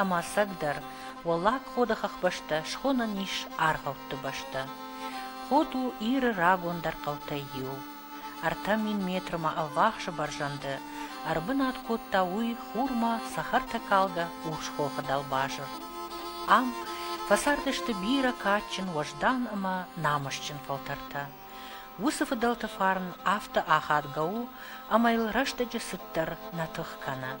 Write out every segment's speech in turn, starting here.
Ӕмӕ ӕцӕгдӕр, Уӕллаг Ходы хӕхбӕстӕ схонӕн ис аргъӕутты бӕстӕ. Ход у Иры рагондӕр хъӕутӕй иу. Ӕртӕ мин метрмӕ ӕввахсы бӕрзӕнды ӕрбынат кодта уый хурмӕ цӕхӕртӕ калгӕ урсхохы дӕлбазыр. Ам фӕцардысты бирӕ кадджын, уӕздан ӕмӕ намысджын фӕлтӕртӕ. Уыцы фыдӕлты фарн афтӕ ахадгӕ у, ӕмӕ йыл рӕстӕджы цыддӕр нӕ тых кӕны.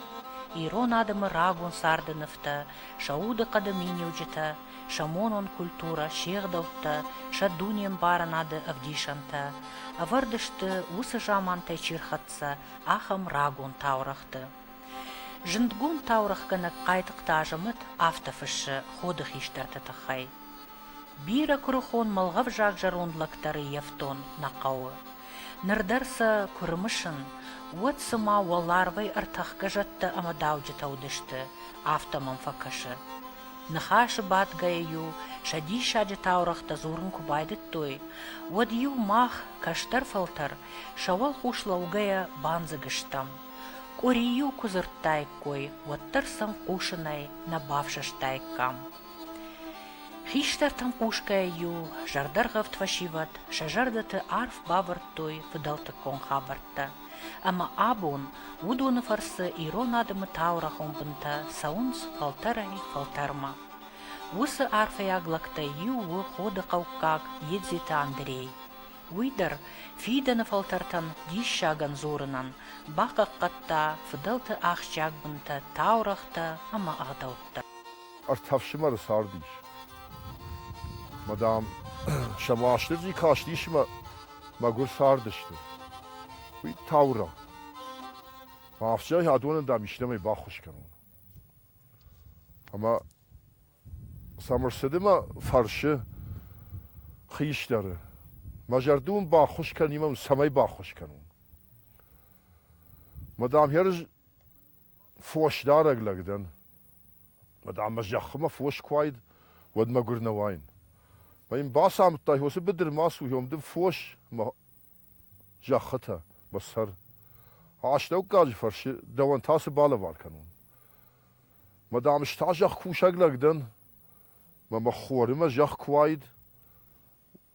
Ирон адӕмы рагон царды нывтӕ, сӕ удыхъӕды миниуджытӕ, сӕ монон культурӕ, се гъдӕуттӕ, сӕ дунембарынады ӕвдисӕнтӕ ӕвӕрд сты уыцы замантӕй чи рхӕццӕ, ахӕм рагон таурӕгъты. Зындгонд таурӕгъгӕнӕг Хъайтыхъты Азӕмӕт афтӕ фыссы ходы хистӕрты тыххӕй. Бирӕ куырыхон мӕлгъӕвзаг зӕронд лӕгтӕры йӕфтон нӕ хъӕуы. Ныр дӕр сӕ куы рымысын, уӕд цыма уӕларвӕй ӕртӕхгӕ зӕдтӕ ӕмӕ дауджытӕ уыдысты, афтӕ мӕм фӕкӕсы. Ныхасы бадгӕйӕ-иу сӕ диссаджы таурӕгътӕ дзурын куы байдыдтой, уӕд-иу мах, кӕстӕр-фӕлтӕр, сӕ уӕлхъус лӕугӕйӕ бандзыг стӕм. Къуыри-иу куы дзырдтаиккой, уӕддӕр сӕм хъусынӕй нӕ бафсӕстаиккам. Хистӕртӕм хъусгӕйӕ-иу зӕрдӕргъӕвд фӕсивӕд сӕ зӕрдӕты арф бавӕрдтой фыдӕлтыккон хабӕрттӕ, ӕмӕ абон уыдоны фӕрцы ирон адӕмы таурӕхъон бынтӕ цӕуынц фӕлтӕрӕй фӕлтӕрмӕ. Уыцы арфӕйаг лӕгтӕй иу у Ходы хъӕуккаг Едзеты Андрей. Уый дӕр фидӕны фӕлтӕртӕн диссагӕн дзурынӕн бахъахъхъӕдта фыдӕлты ахсджиаг бынтӕ, таурӕгътӕ ӕмӕ ӕгъдӕуттӕ. ӕртӕ фсымӕры цард ис. Мадам, сӕ Уастырджи кастис мӕ мӕгуыр цардысты. Уый таурӕгъ. Афтӕ адоны дам истӕмӕй баххуыс кӕнон. Ӕмӕ Сӕмырсыды мӕ фӕрсы хистӕры, мӕ зӕрды уын баххуыс кӕнимӕ, цӕмӕй баххуыс кӕнон? Мадам, йӕ рыз фосдарӕг лӕг дӕн. Уӕд ӕмӕ зӕххымӕ фос куы уаид, уӕд мӕгуыр нӕ уаин. Мӕ йын бацамыдтай, уыцы быдыр ма суйон, ды фос, мӕ зӕххытӕ, мӕ сӕр. Астӕуккаджы фӕрцы дӕуӕн та цы балӕвар кӕнон? Мӕ дам, ӕз та зӕхкусӕг лӕг дӕн. Мӕ мӕ хорымӕ зӕхх куы уаид,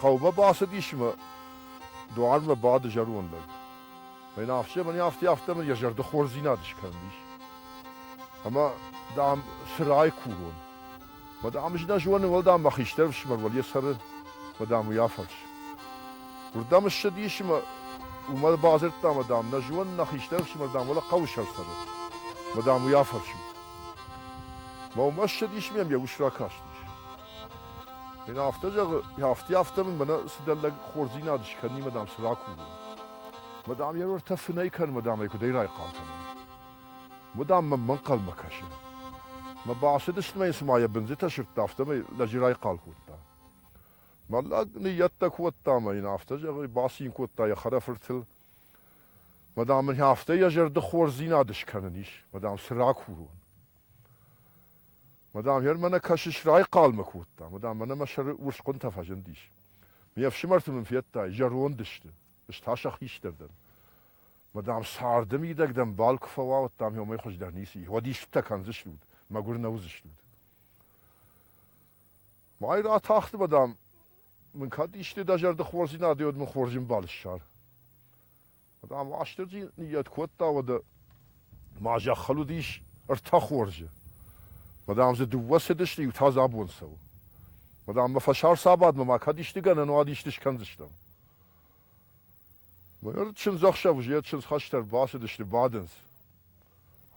Хъӕумӕ бацыдис мӕ дуармӕ бады зӕронд лӕг. Мӕн ӕхсӕвӕн афтӕ афтӕмӕн йӕ зӕрды хорздзинад скӕндис. Ӕмӕ, дам, сырӕй курон. Мӕ дам, ӕз нӕ зонын, уӕл, дам, мӕ хистӕр ӕфсымӕр йӕ цӕры, мӕ дам, уый афӕрс. Уырдӕм ссыдис мӕ уымӕ бадзырдта, мӕ дам, нӕ зонын, нӕ хистӕр ӕфсымӕр, дам, уӕлӕ хъӕуы сӕр цӕры. Мӕ дам, уый афӕрсут. Мӕ уымӕ ссыдис мӕм йӕ ус ракастис. Ен афтӕ зӕгъы, афтӕ афтӕ мын мӕнӕ сыдӕллӕг хорздзинад скӕнимӕ дам цы ракувын. Мадам йӕ рортӕ фынӕй кӕн, мадам ӕй куыдӕй райхъал кӕнын. Мадам мӕм мӕнхъӕлмӕ кӕсы. Мӕ бацыдысты мӕ цыма йӕ бындзытӕ сырдта, афтӕмӕй лӕджы райхъал кодта. Мӕ лӕг ныййӕттӕ кодта мӕ йын афтӕ зӕгъы, бацин кодта йӕ хӕрӕфыртыл. Мадам мын афтӕ йӕ зӕрды хорздзинад скӕнын ис, мадам цы ракурон. Мадам, гъер мӕнӕ кӕсыс, райхъалмӕ кодта. Мадам, мӕнӕ мӕ сӕры урсхъуынтӕ фӕзындис. Ме фсымӕрты мын федтай, зӕронд сты. Ӕз та сӕ хистӕр дӕн. Мадам, царды мидӕг дӕм бал куы фӕуа, уӕд дӕм иумӕ хуыздӕр ницы ис. Уӕд истытӕ кӕндзыстут, мӕгуыр нӕ уыдзыстут. Мӕй ратахт, мадам, мын кӕд исты дӕ зӕрды хорздзинад и, уӕд мын хорз ӕмбал ссар. Ам Уастырджи ныййӕт кодта, уӕдӕ ма зӕххыл уыдис ӕртӕ хорзы. Мадам дзы дыууӕ цыдысты, иу та дзы абон цӕуы. Мадам, мӕ фӕсарцабадмӕ ма кӕд исты гӕнӕн уӕд исты скӕндзыстӕм. Ныр чындзӕхсӕв уызы йӕ чындз хӕстӕ ӕрбацыдысты, бадынц.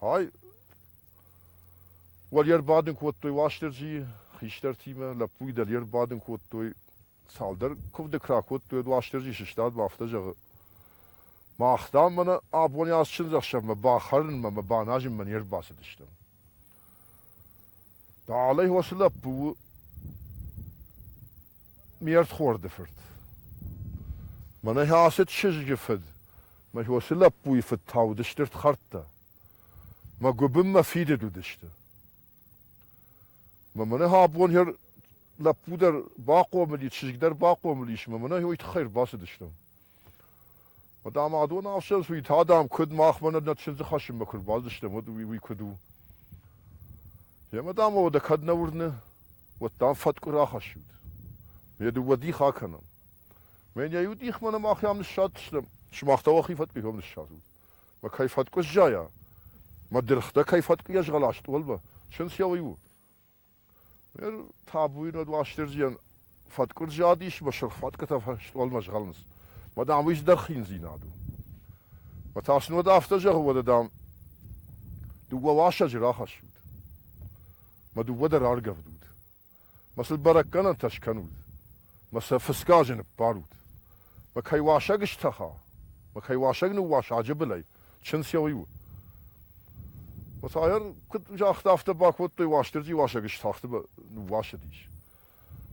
Ай, уӕд йӕ ӕрбадын кодтой Уастырджийы хистӕртимӕ, лӕппуйы дӕр йе рбадын кодтой. цалдӕр куывды куы ракодтой, уӕд Уастырджи сыстад мӕ афтӕ зӕгъы, Мах, дам, мӕнӕ абони ацы чындзӕхсӕвмӕ бахӕрынмӕ мӕ баназынмӕ не рбацыдыстӕм. Дӕлӕ уыцы лӕппу у ме рдхорды фырт. Мӕнӕ ацы чызджы фыд, мӕ уыцы лӕппуйы фыд та уыд стыр хӕрдтӕ. Мӕ гуыбын мӕ фидыд уыдысты. Мӕ мӕнӕ абон лӕппу дӕр бахъомыл и, чызг дӕр бахъомыл ис, мӕ мӕнӕ уый тыххӕй ӕрбацыдыстӕм. Уӕд ам адон ӕфсӕнц уый адӕм куыд махмӕ нӕ чындзы хӕссынмӕ куы ӕрбацыдыстӕм, уӕд уый, уый куыд у? Йӕ мадам уӕдӕ кӕд нӕ уырны, уӕд дам фӕткъуы рахӕссут. Ме дыууӕ дих акӕнӕм. Мӕн йӕ иу дихмӕ нӕ махӕм ныссадтыстӕм. Сымах та уӕхи фӕткъуытӕм ныссадзут. Мӕ кӕй фӕткъуы сзайа? Мӕ дыргътӕ кӕй фӕткъуы йӕ згъӕла стъолмӕ? Чындз йӕ уый у. Ныр табуйы над Уастырджийӕн фӕткъуыр зад ис мӕ сырх фӕткъуытӕ фӕстуӕлмӕ згъӕлынц. Мӕ дам, уый здӕх хиндзинад у. Мӕ та сын уӕд афтӕ зӕгъы, уӕдӕ, дам, дыууӕ уасӕджы рахӕссут. Мӕ дыууӕ дӕр аргӕвдут. Мӕ сыл бӕрӕггӕнӕнтӕ скӕнут. Мӕ сӕ фысгӕ азы ныппарут. Мӕ кӕй уасӕг стӕха, мӕ кӕй уасӕг ныууаса аджы былӕй, Чындзӕуиу. Мацайӕн куыд загъта, афтӕ бакодтой Уастырджи уасӕгы сцахты ныууасыдис.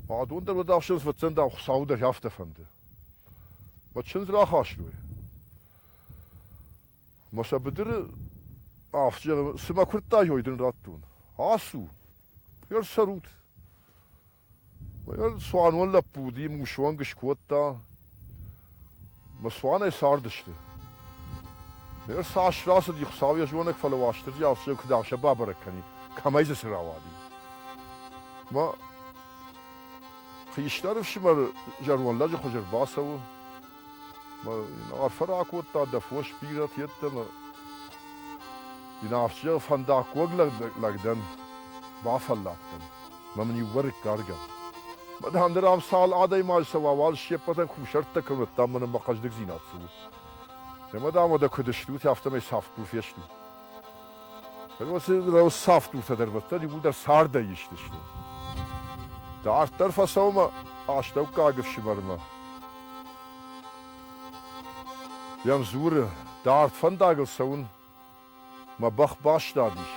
Бадон дӕр уӕд ӕхсӕз фӕцӕндау Хуыцауы дӕр афтӕ фӕнды. Мӕ чындз рахастой. Мӕ сӕ быдыры ӕфсымӕр куырдтаей дын радтон. Ацу, ӕрцӕрут. Цуанон лӕппу уыди, мын усуӕнг скодта. Мӕ цуанӕй цардысты. Ныр цас рацыди Хуыцау йӕ зонӕг, фӕлӕ Уастырджи алцыдӕр куыд аса бабӕрӕг кӕнид, кӕмӕй дзы цы рауади. Мӕ хистӕр ӕфсымӕр зӕронд лӕджы хуызы ӕрбацӕуы. Арфӕ ракодта дӕ фос бирӕт йеддӕмӕ. Дин афтиер фӕндаггог лӕг дӕн, бафӕлладтӕн, мӕ мын иувӕрыккаргӕ. Мадӕн дӕр ам цал адӕймаджы цӕуа, уал се ппӕтӕн кусӕрттӕ кӕнӕдта мӕнӕн мӕ хъӕздыгдзинад цы у. Йӕ мадӕмӕ дӕ куыд стут, афтӕмӕй сӕфт куы фестут. Росавтутӕ дӕр уӕддӕр иууылдӕр цардӕй истысты. Дарддӕр фӕцӕуынмӕ астӕуккаг ӕфсымӕрмӕ. Йӕм дзуры, дард фӕндагыл цӕуын мӕ бӕх бастадис,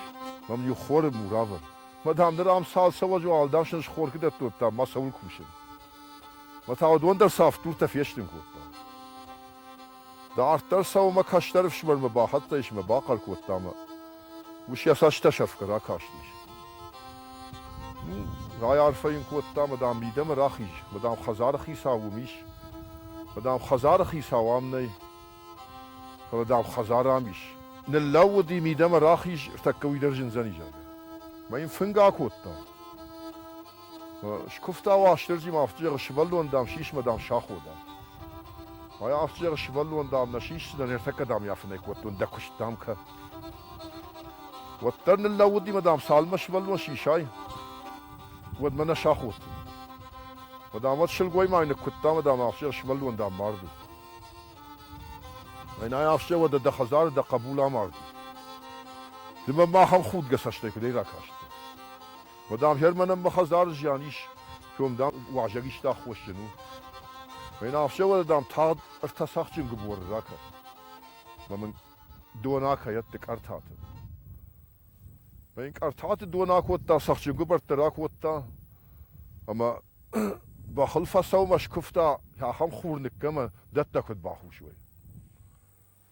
мӕм иу хоры мур авӕрд. Мадам, ныр ам цал цӕуӕджы уӕлдӕфсӕн схоркы дӕттодта мӕ цӕуыл кусын? Мӕ та уыдон дӕр сӕ ӕфтуртӕ фестын кодта. Дарддӕр сӕумӕ кӕстӕр ӕфсымӕрмӕ бахӕццӕ ис ӕмӕ бахъӕр кодта мӕ ус йӕ цӕстӕ сӕфгӕ ракастис. Райарфӕ йын кодта, мадам, мидӕмӕ рахиз, мадам, хӕдзары хицау уым ис, мадам, хӕдзары хицау ам нӕй, фӕлӕ, дам, хӕдзар ам ис. Ныллӕууыди, мидӕмӕ рахиз, ӕртӕккӕ уый дӕр зындзӕни, зӕгъгӕ. Мӕ йын фынгы акодта. Скуывта Уастырджи ма афтизӕры сывӕллон, дам, сисмӕ, дам, сахода. Ӕ афтизӕры сывӕллон, дам, нӕ сисдзынӕн, ӕртӕккӕ, дам, йафынӕй кодтон дӕ куыст, дам, кӕ. Уӕддӕр ныллӕууыди мӕ, дам, цалынмӕ сывӕллон сисай, уӕдмӕ нӕ саход. Мӕ, дам, уӕд сылгоймай ныккуыдта мӕ, дам, афтизӕр сывӕллон, дам, мард у. Ӕнай афтизӕр уӕдӕ дӕ хӕдзары дӕ хъӕбул амарди. Ды мӕ махӕн худгӕ цӕстӕй куыдӕй ракастӕ? Мадӕфхӕр мӕнӕн мӕ хӕдзары зиан ис, кӕм, дам, уазӕг иста аххосджын у. Мӕнӕ ӕфсӕвӕры, дам, тагъд ӕртӕцахджын гыборы ракӕн. Мӕ мын дона кӕйӕдты къӕртаты. Мӕ йын къӕртаты дона кодта, цӕхджын гыбӕрттӕ ракодта, ӕмӕ бӕхыл фӕсаумӕ скуывта, ахӕм хур ныккӕмӕ дӕттӕ куыд бахус уай.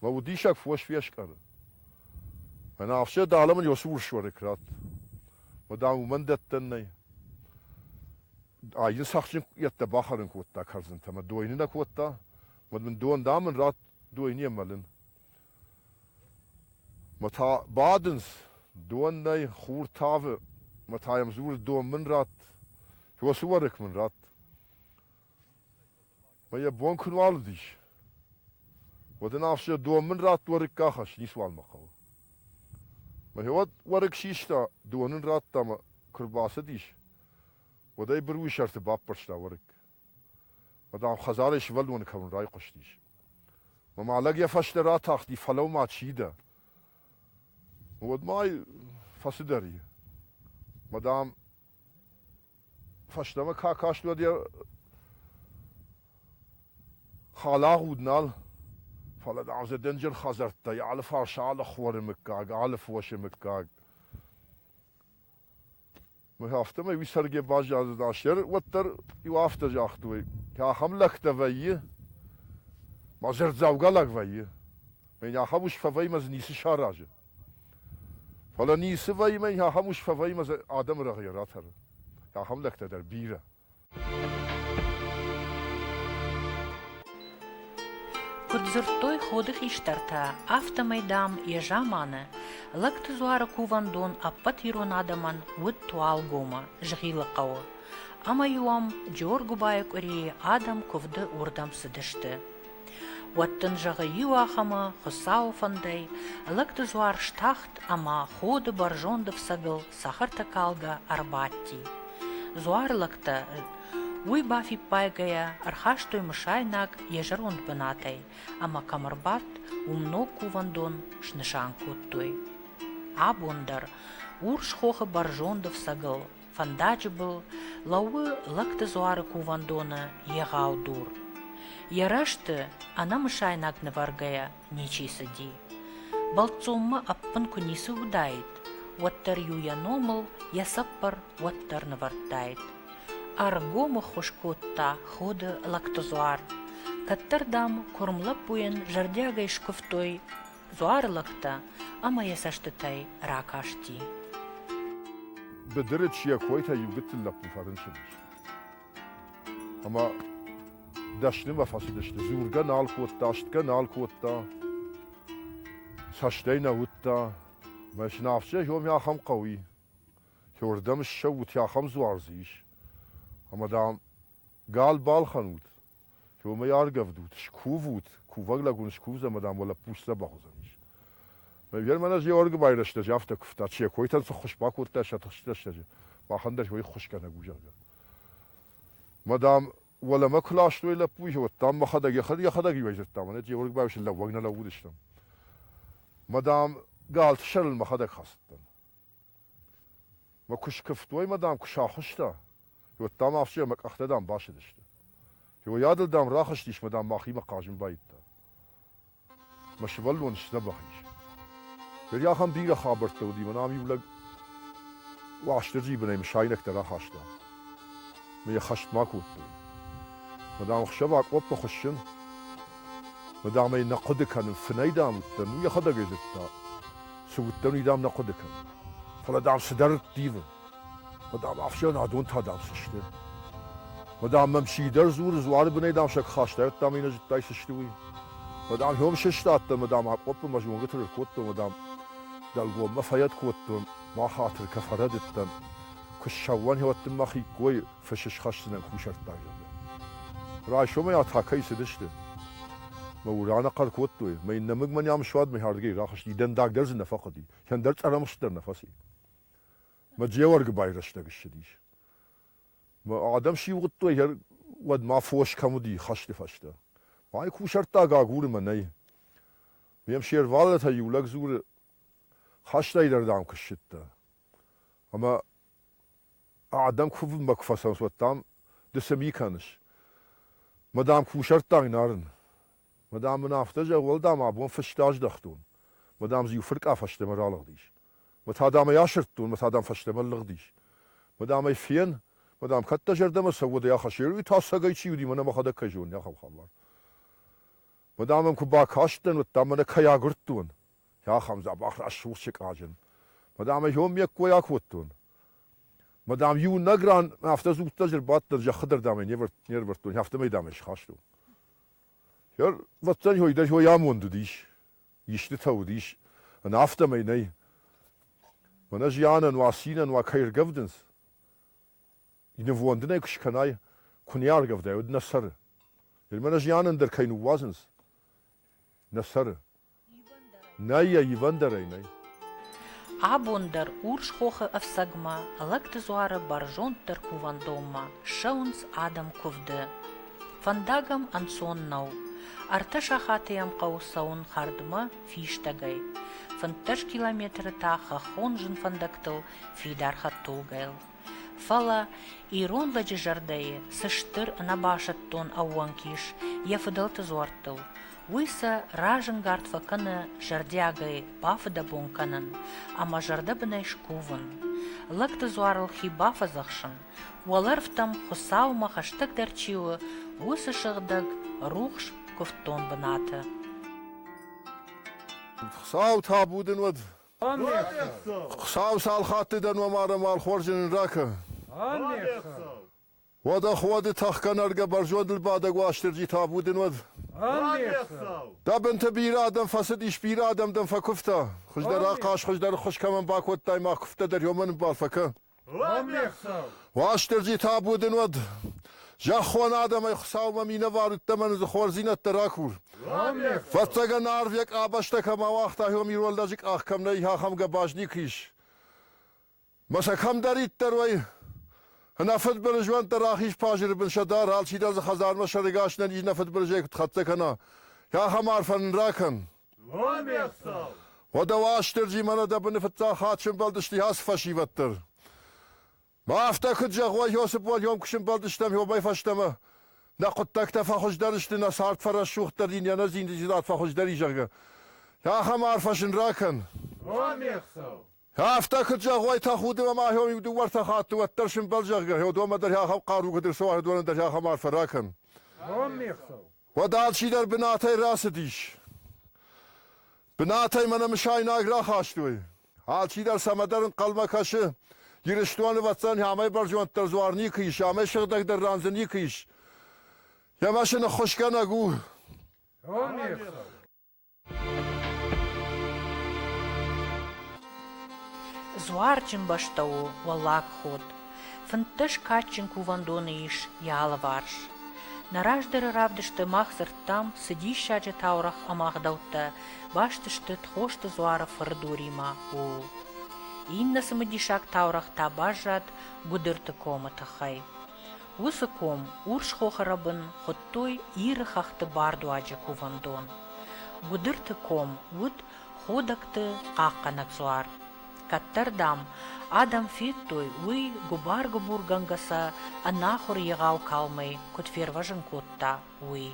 Мӕ удисӕг фос фескъӕры. Мӕнӕ Афсӕ, дӕлӕ мын уыцы урс уӕрыкк ратт. Ма, дам, уымӕн дӕттӕн нӕй. Ай йын цӕхджын йедтӕ бахӕрын кодта кӕрдзынтӕ, мӕ дойны нӕ кодта? Уӕд мын дон, дам, ын ратт дойныйӕ мӕлын. Мӕ та бадынц, дон нӕй, хур тавы. Мӕ та йӕм дзуры, дон мын ратт, уыцы уӕрыкк мын ратт. Мӕ йӕ бон куы нуал уыдис, уӕд ын ӕфсӕ дон мын радт уӕрыкк ахӕсс, ницуал мӕ хъӕуы. Мӕхиуӕд уӕрыкк систа, дон ын радта мӕ куы рбацыдис, уӕд ӕй быруйы сӕрты баппӕрста уӕрыкк. Мӕ дам хӕдзарӕй сывӕллоны кӕуын райхъуыстис. Мӕ ма лӕг йӕ фӕстӕ ратахти, фӕлӕуу-ма, чи дӕ? Уӕд ма ай фӕцыдӕр и. Мӕ дам Фӕстӕмӕ ка каст, уӕд йӕ халагъуд нал, фӕлӕ дам дзы дӕнджыр хӕдзӕрттӕй алыфарс, алы хуӕры мыггаг, алыфосы мыггаг. Афтӕмӕй уый цӕргӕ баззадзыд астӕр, уӕддӕр иу афтӕ загътой, ka ахӕм лӕгтӕ вӕййы, мӕ дзырд дзӕвгар лӕг вӕййы, мӕ йын ахӕм ус фӕвӕййы, мӕ дзы ницы саразы. Фӕлӕ ницы вӕййы, ахӕм ус фӕвӕййы адӕмы рӕгъыйӕ ратӕры. Ахӕм лӕгтӕ дӕр бирӕ. Куыд дзырдтой ходы хистӕртӕ, афтӕмӕй, дам, йӕ заманы Лӕгты дзуары кувӕндон ӕппӕт ирон адӕмӕн уыд Туалгомы, Згъилы хъӕуы. Ӕмӕ-иу ӕм Джоргуыбайы къуырийы адӕм куывды уырдӕм цыдысты. Уӕд дын зӕгъы иу ахӕмы Хуыцауы фӕндӕй, лӕгдызуар стахт ӕмӕ ходы бӕрзонд ӕфцӕгыл цӕхӕртӕ калгӕ ӕрбадти. Дзуары лӕгтӕ уый бафиппайгӕйӕ ӕрхастой мысайнаг йӕ зӕронд бынатӕй ӕмӕ кӕм ӕрбадт, уым ног кувӕндон снысан кодтой. Абон дӕр урс хохы бӕрзонд ӕфцӕгыл Фӕндаджы был лӕууы Лӕгты дзуары кувӕндоны егъау дур. Йӕ рӕзты ӕнӕмысайнаг нывӕргӕйӕ ничи цыди. Бӕлццонмӕ ӕппын куы ницы уыдаид, уӕддӕр-иу йӕ номыл йӕ цӕппӕр уӕддӕр нывӕрдтаид. Ӕргом ӕххуыс кодта ходы лӕгты дзуар. Кӕддӕр, дам, куырм лӕппуйӕн зӕрдиагӕй скуывтой дзуар лӕгтӕ ӕмӕ йӕ цӕстытӕй ракасти. Быдырыч йӕ койтӕ иу гыццыл лӕппу фӕрынчыдис. Ӕмӕ дӕснымӕ фӕцыдысты. Дзургӕ нал кодта, астгӕ нал кодта, цӕстӕй нӕ уыдта. Мӕ сынафсӕй Хёме ахӕм хъӕу и. Хёрдӕм ссӕуут, ахӕм дзуар дзы ис. Ӕмӕ, дам, Гал балхӕнут, уомӕй аргӕвдут, скувут, кувӕг лӕгун скувдзӕн ӕма дам уӕ лӕппу сдзӕбӕх уодзӕнис. Мӕгӕр мӕнӕ Георги байрӕстӕ, афтӕ кувта, се койтӕн цы ххуыс бакодта сӕ тыхстрӕстӕджы, бӕхӕн дӕр уой ххусгӕнӕг у, зӕгъгӕ. Ма дам, уӕлӕмӕ куы ластой лӕппуйы, уӕд дам мӕхӕдӕг йӕхӕдӕг иуӕйдзырдта, мӕнӕ Георги байрӕстӕн лӕууӕг нӕ лӕууыдыстӕм. Ма дам, галты сӕрыл мӕхӕдӕг хӕцыдтӕн. Мӕ куы скуывтой мӕ, дам, куы сахуыста, уӕд, дам, афтӕ мӕ къӕхтӕ, дам, басыдысты. Йойадыл, дам, рахызтис мӕ, дам, мӕхимӕ хъазын баидта. Мӕ сывӕллон сдзӕбӕх ис. Ныр ахӕм бирӕ хабӕрттӕ уыди, мӕн ам иу лӕг Уастырджийы бынӕй мысайнӕгтӕ рахаста. Мӕ йӕ хӕст ма кодтой. Мӕ, дам, ӕхсӕв акъоппы хуыссын. Мӕ, дам, ӕй нӕ хъуыды кӕнын, фынӕй, дам, уыдтӕн, уый йӕхӕдӕг ӕй зыдта. Цы уыдтӕн, уый дӕм нӕ хъуыды кӕнын. Фӕлӕ дӕм цыдӕр дивын. Мӕ дам, ӕхсӕнадон та дӕм цы сты? Мӕ дам, мӕм чи дӕр дзуры, дзуары бынӕй дӕм сӕ куы хастайдта ӕмӕ нӕ зыдтай цы сты, уый. Мӕ дам, хъом сыстадтӕн, мӕ дам, акъоппы мӕ зонгӕты ракодтон, мӕ дам, дӕлгоммӕ фӕйӕд кодтон, ма хатыр кӕ фӕрӕдыдтӕн. Куы ссӕуӕн, хӕуӕд дын мӕ хиккой, фыс схӕссынӕн кусӕрттаг, зӕгъгӕ. Райсомӕй атакӕйы цыдысты. Мӕ ур анахъӕр кодтой, мӕ иннӕмыгмӕ нӕм суад мыйхӕрдыгӕй рахызти, дӕндаг дӕр дзы нӕ фӕхъуыди, кӕндӕр цъӕрӕмхст дӕр нӕ фӕци. Мӕ Джеуӕргы байрӕстӕг ссыдис. Мӕ адӕм сиугъуыдтой, уӕд ма фос кӕм уыди хӕсты фӕстӕ. Мӕй кусӕрттаг агуры мӕ нӕй. Ме мсе рвадатӕй иу лӕг дзуры, Хӕстӕйдӕр дӕм куы ссыдтӕ, Ӕмӕ адӕм кувынмӕ куы фӕцӕуынц, уӕд, дам, ды цы ми кӕныс? Ма, дам, кусӕрттаг Нарын. Ма, дам, мын афтӕ зӕгъ, уӕлдай ма абон фысты аздӕхтон. Ма, дам, дзы иу фыркъа фӕстӕмӕ ралыгъдис. Ма та, дам ӕй асырдтон, ма та, дам, фӕстӕмӕ лыгъдис. Ма, дам ӕй фен, ма, дам, кӕд дӕ зӕрдӕмӕ цӕуы, уӕдӕй ахӕссӕрой, тасагӕй чи уыди, мӕнӕ мӕхӕдӕг кӕй зонын, ахӕм хабар. Мадам ын куы бакастӕн, уӕд та мӕнӕ кӕй агуырдтон, ахӕм дзӕбӕх рӕсугъд сыкъаджын. Мадам ӕй ме ккой акодтон. Мадам иунӕг ран мӕ афтӕ дзуттаджы ӕрбадтӕн, зӕххы дӕр дам ӕй не ӕрӕвӕрдтон, афтӕмӕй дам ӕй схастон. Ӕрвӕццӕн ой дӕр ой амонд уыдис, истытӕ уыдис, ӕнӕ афтӕмӕй нӕй. Мӕнӕ зианӕн, уа цинӕн, уа кӕй ӕргӕвдынц. нывондынӕй куы скӕнай, куы не аргӕвдай, уӕд нӕ цӕры. Иумӕ нӕ зианӕн дӕр кӕй ныууадзынц, нӕ цӕры. Нӕй йӕ ивӕндӕрӕй нӕй. Абон дӕр урс хохы ӕфцӕгмӕ, лӕгты дзуары бӕрзонддӕр кувӕндонмӕ ссӕуынц адӕм куывды. Фӕндаг ӕм ӕнцон нӕу. Ӕртӕ сахаты йӕм хъӕуы цӕуын хӕрдмӕ фистӕгӕй. Фынддӕс километры та хӕххон зын фӕндӕгтыл фидар хӕдтулгӕйыл. Фӕлӕ ирон лӕджы зӕрдӕйы цы стыр ӕнӕбасӕттон ӕууӕнк ис йӕ фыдӕлты дзуӕрттыл, уый сӕ разӕнгард фӕкӕны зӕрдиагӕй бафыдӕбон кӕнын ӕмӕ зӕрдӕбынӕй скувын. Лӕгты дзуарыл хи бафӕдзӕхсын, уӕлӕрвтӕм Хуыцаумӕ хӕстӕгдӕр чи у, уыцы сыгъдӕг, рухс, куывддон бынаты. Хуыцау табу дын уӕд, Хуыцау цал хатты дӕ номарӕн хорзӕн нын ракӕн. Уӕдӕ хуӕды тӕхгӕнӕргӕ бӕрзондыл бадӕг Уастырджи табу дын уӕд. Дӕ бынты бирӕ адӕм фӕцыдис, бирӕ адӕм дӕм фӕкуывта. Хуыздӕр ахъаз, хуыздӕр ӕххуыс кӕмӕн бакодтай, ма куывдтӕ дӕр иомӕ ныббар фӕкӕ. Уастырджи табу дын уӕд! Зӕххон адӕмӕй Хуцаумӕ минӕвар удтӕмӕн дзы хорздзийнӕдтӕ ракур. Фӕццӕгӕн арв йӕ къабӕзтӕ кӕм ауагъта, иом ирон лӕджы къах кӕм нӕй, ахӕм гӕбаз никуы ис. Мӕ сӕ кӕмдӕриддӕр уай, нӕ фыдбылыз уӕнт дӕ рахиз пазыры бын сӕ дӕр, алчидӕр дзы хӕдзармӕ сӕрыгас нӕ низ нӕ фыдбылызӕй куыд хӕццӕ кӕна, ахӕм арфӕ нын ракӕн. Уӕдӕ Уастырджи мӕнӕ дӕ быны фыццаг хатт сӕмбӕлдысты ацы фӕсивӕд дӕр. Ма афтӕ куыд зӕгъ уай, Иосиф уал ом куы сӕмбӕлдыстӕм омӕй фӕстӕмӕ. Нӕ хъуыддӕгтӕ фӕхуыздӕр сты, нӕ цард фӕрӕсугъддӕр дин йӕ нӕ зиндзинад фӕхуыздӕр и, зӕгъгӕ. Ахӕм арфӕ сын ракӕн. Афтӕ куыд зӕгъой тӕхуды ӕмӕ ахӕм дыууӕ-ӕртӕ хатты уӕддӕр сымбӕл, зӕгъгӕ, уӕдмӕ дӕр ахӕм хъару куыд ӕрцӕуа, уӕдмӕ дӕр ахӕм арфӕ ракӕн. Бон не хсӕв. Уӕд алчидӕр бынатӕй рацыдис. Бынатӕй мӕнӕ мысайнаг рахастой. Алчидӕр цӕмӕдӕр ӕнхъӕлмӕ кӕсы, Ирыстоны ӕвӕццӕн амӕй бӕрзонддӕр дзуар никуы ис, амӕй сыгъдӕгдӕр ран дзы никуы ис. Ӕмӕ сын ӕххуысгӕнӕг у. Бон не хсӕв. Дзуарджын бӕстӕ у Уӕллаг Ход. Фынддӕс кадджын кувӕндоны ис йӕ алыварс. Нӕ раздӕры равдысты мах дзырдтам, цы диссаджы таурӕгъ ӕмӕ ӕгъдӕуттӕ баст сты Тхосты дзуары фыры доримӕ, ууыл. Иннӕ цымыдисаг таурӕгъ та баззад Гуыдырты комы тыххӕй. Уыцы ком Урсхохы рӕбын хуыдтой Иры хӕхты бардуаджы кувӕндон. Гуыдырты ком уыд Ходӕгты хъахъхъӕнӕг дзуар. Кӕддӕр, дам, адӕм федтой уый гуыбар-гуыбургӕнгӕ сӕ ӕнахуыр егъау калмӕй куыд фервӕзын кодта, уый.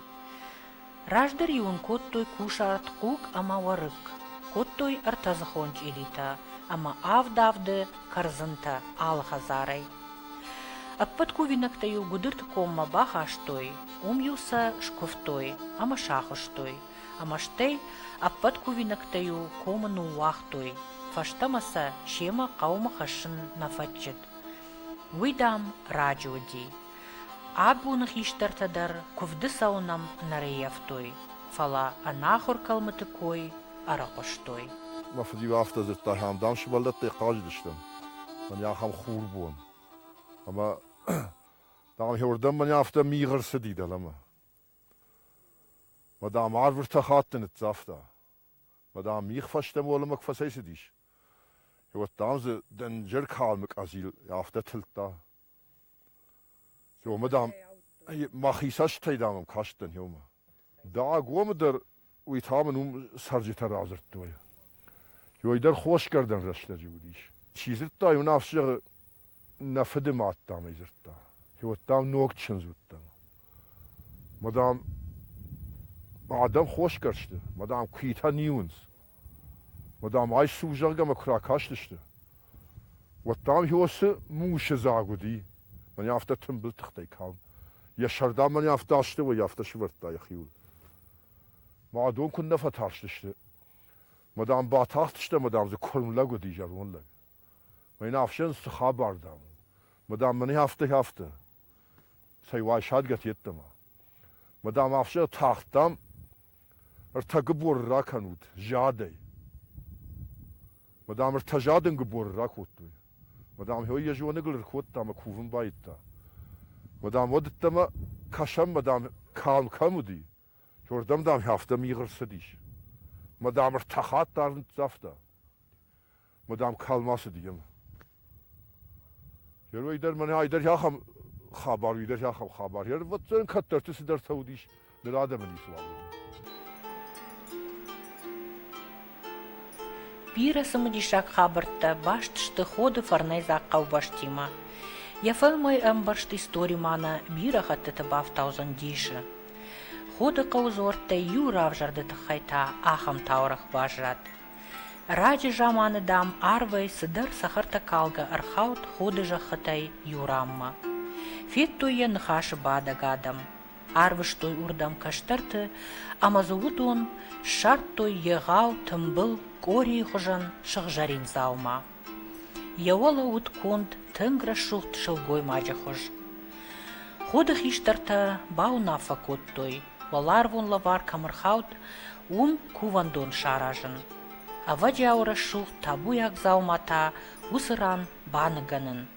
Раздӕр-иу ын кодтой кусарт, хъуг ӕмӕ уӕрыкк, кодтой ӕртӕдзыхон чъилитӕ ӕмӕ авд-авды кӕрдзынтӕ алы хӕдзарӕй. Ӕппӕт кувинӕгтӕ-иу гуыдырты коммӕ бахастой, уым-иу сӕ скуывтой ӕмӕ сахуыстой, ӕмӕ стӕй ӕппӕт кувинӕгтӕ-иу комы ныууагътой, фӕстӕмӕ сӕ семӕ хъӕумӕ хӕссын нӕ фӕтчыд. Уый, дам, раджы уыди. Абоны хистӕртӕ дӕр куывды цӕуынӕн нӕ рӕййӕфтой, фӕлӕ ӕнахуыр кӕлмыты кой ӕрыхъуыстой. Мӕ фыд-иу афтӕ дзырдта, ахӕм, дам, сывӕллӕттӕ хъазыдысты мӕнӕ ахӕм хурбон. Ӕмӕ, дам, уырдӕм мӕнӕ афтӕ мигъ ӕрцыди дӕлӕмӕ. Мӕ дам арв ӕртӕ хатты ныццавта. Мӕ дам мигъ фӕстӕмӕ уӕлӕмӕ куы фӕцӕйцыдис, уӕд, дам, дзы дӕнджӕр калмы къӕдзил афтӕ тылдта. Омӕ, дам, мӕхи цӕстытӕй, дам, ӕм кастӕн иумӕ. Дагомы дӕр уый та мын уым цӕрджытӕ радзырдтой. Йой дӕр хосгӕрдӕн рӕстӕджы уыдис. Чи дзырдта, уый нӕфс зӕгъы, нӕ фыды мад, дам, ӕй дзырдта. Уӕд, дам, ног чындз уыдтӕн. Мадам, адӕм хосгӕрсты, мадам, куитӕ ниуынц. Мадам, айс сувзӕргӕмӕ куы ракастысты, уӕд, дам, Иосы мусы дзаг уыди. Мӕн афтӕ тымбыл тыхтӕй калм. Йӕ сӕр, дам, мӕн афтӕ астӕуӕй афтӕ сывӕрдта йӕхиуыл. Мӕ адон куыннӕ фӕтарстысты. Мадам, батахтыстӕм, мадам, дзы куырм лӕг уыди, зӕронд лӕг. Мӕн ӕфсӕн цы хабар, дам, ма дам мӕнӕ афтӕ, афтӕ. Цӕй, уай садгӕ йеддӕмӕ. Ма дам ӕфсӕн тагъд, дам, ӕртӕ гыборы ракӕнут задӕй. Ма дам ӕртӕ задын гыборы ракодтой. Ма дам хьой йӕ зоныгыл ӕркодта ӕмӕ кувын байдта. Ма дам уӕддӕмӕ кӕсӕм, ма дам калм кӕм уыди, уырдӕм, дам, афтӕ мигъ ӕрцыдис. Ма дам ӕртӕ хатт та ӕрныццавта. мадам калмӕ цыди йемӕ. Герой дӕр мӕнӕ айдӕр ахӕм хабар, уыйдӕр ахӕм хабар. Йе рвӕтдзӕн кӕддӕрты цыдӕртӕ уыдис ныр адӕмы ницы уавӕры. Бирӕ цымыдисаг хабӕрттӕ баст сты ходы фӕрнӕйдзаг хъӕубӕстимӕ. Йӕ фӕлмӕй ӕмбӕрзт истори ма нӕ бирӕ хӕттыты бафтаудзӕн дисы. Ходы хъӕу дзуӕрттӕй иу равзӕрды тыххӕй та ахӕм таурӕгъ баззад. Раджы заманы, дам, арвӕй цыдӕр цӕхӕртӕкалгӕ ӕрхауд худы зӕххытӕй иу ранмӕ. Федтой йӕ ныхасы бадӕг адӕм. Арвыстой уырдӕм кӕстӕрты ӕмӕ дзы уыдон ссардтой егъау тымбыл къорийы хуызӕн сыгъзӕрин дзаума. Йӕ уӕлӕ уыд конд, тынг рӕсугъд сылгоймаджы хуыз. Худы хистӕртӕ бауынаффӕ кодтой, уӕларвон лӕвар кӕм ӕрхауд, уым кувӕндон саразын. Ӕвӕджиауы рӕсугъд табуйаг дзауматӕ уыцы ран баныгӕнын.